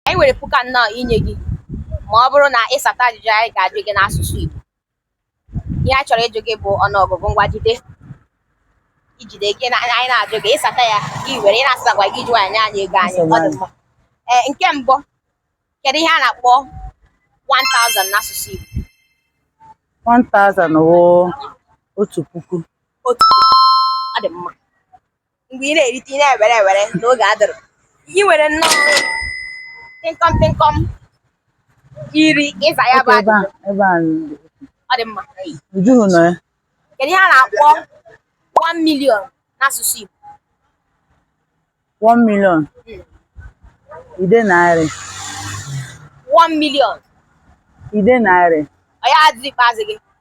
Anyị nwere puku anọ inye gị ma ọ bụrụ na ị sata ajụjụ anyị ga-ajụ gị n'asụsụ Igbo. Ihe a chọrọ ịjụ gị bụ ọnụọgụgụ ngwa jide ijide gị na anyị na-ajụ gị ị sata ya gị were ị na-asatakwaghị jụ nye anyị ego anyị ọ dị mma. Ee, nke mbụ kedu ihe a na-akpọ 1000 n'asụsụ Igbo? 1000 wụ otu puku. Otu puku. Ọ dị mma. mgbe ị na-erite ị na-ewere ewere na oge adịghị ị nwere nnọọ tịnkọm tịnkọm iri ịza ya bụ ajụjụ ebe a ọ dị mma ujuhu nọ ya kedu ihe a na-akpọ 1 million n'asụsụ Igbo 1 million hmm. nde narị 1 million nde narị ọ ya asịsa ikpeazụ gị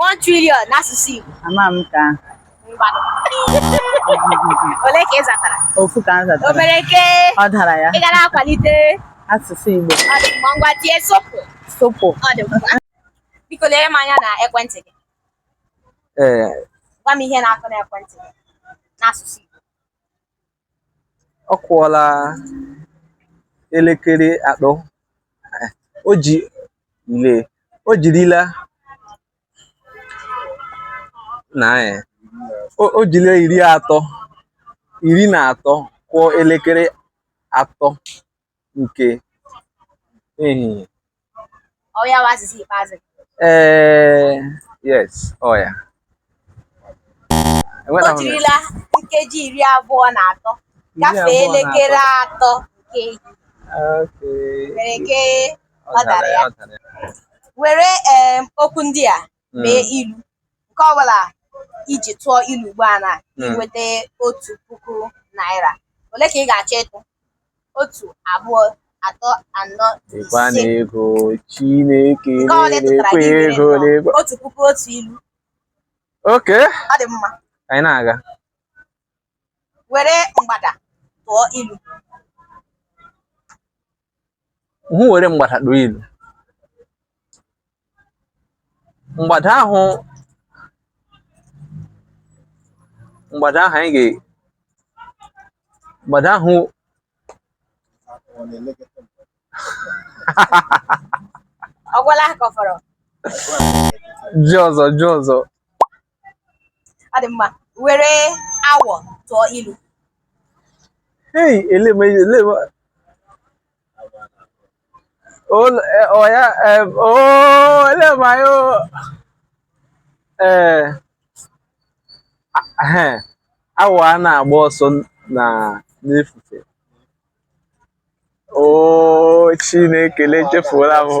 1 trillion n'asụsụ Igbo. Ama m ka. Ngwanụ. Ole ka ị zatara? Ofu ka m zatara. O mere ke. Ọ dara ya. Ị gara akwalite asụsụ Igbo. Ọ dị mma ngwa tie sopụ. Sopụ. Ọ dị mma. Biko lere m anya na ekwentị gị. Ee. Eh. Gwa m ihe na-akụ n'ekwentị gị n'asụsụ Igbo. ọ kụọla elekere atọ o ji ile o jirila naanị o jile iri atọ iri na atọ kụọ elekere atọ nke ehihie ọ ya bụ asịsa ikpeazụ ee yes ọ ya o jirila nkeji iri abụọ na atọ gafee elekere atọ nke ehihie mere ke ọ dara ya were okwu ndị a mee hmm. ilu nke ọbụla i ji tụọ ilu ugbu a na hmm. i nweta otu puku naira ole ka ị ga-achọ ịtụ otu abụọ atọ anọ ise ego Chineke na-ekwe ego n'ego otu puku otu ilu okay ọ dị mma anyị na-aga were mgbada tụọ ilu hụ were mgbada tụọ ilu mgbada ahụ mgbada ahụ anyị ga mgbada ahụ ọ gwụla ka ọ fọrọ ji ọzọ ji ọzọ Ọ dị mma, were awọ tụọ ilu Hey, ele m ele m. Ol eh, ọ ya eh, oh, ele m anyị o. Eh, a- eh, awọ a na-agba ọsọ na n'efufe. Oh, Chineke echefuola m o.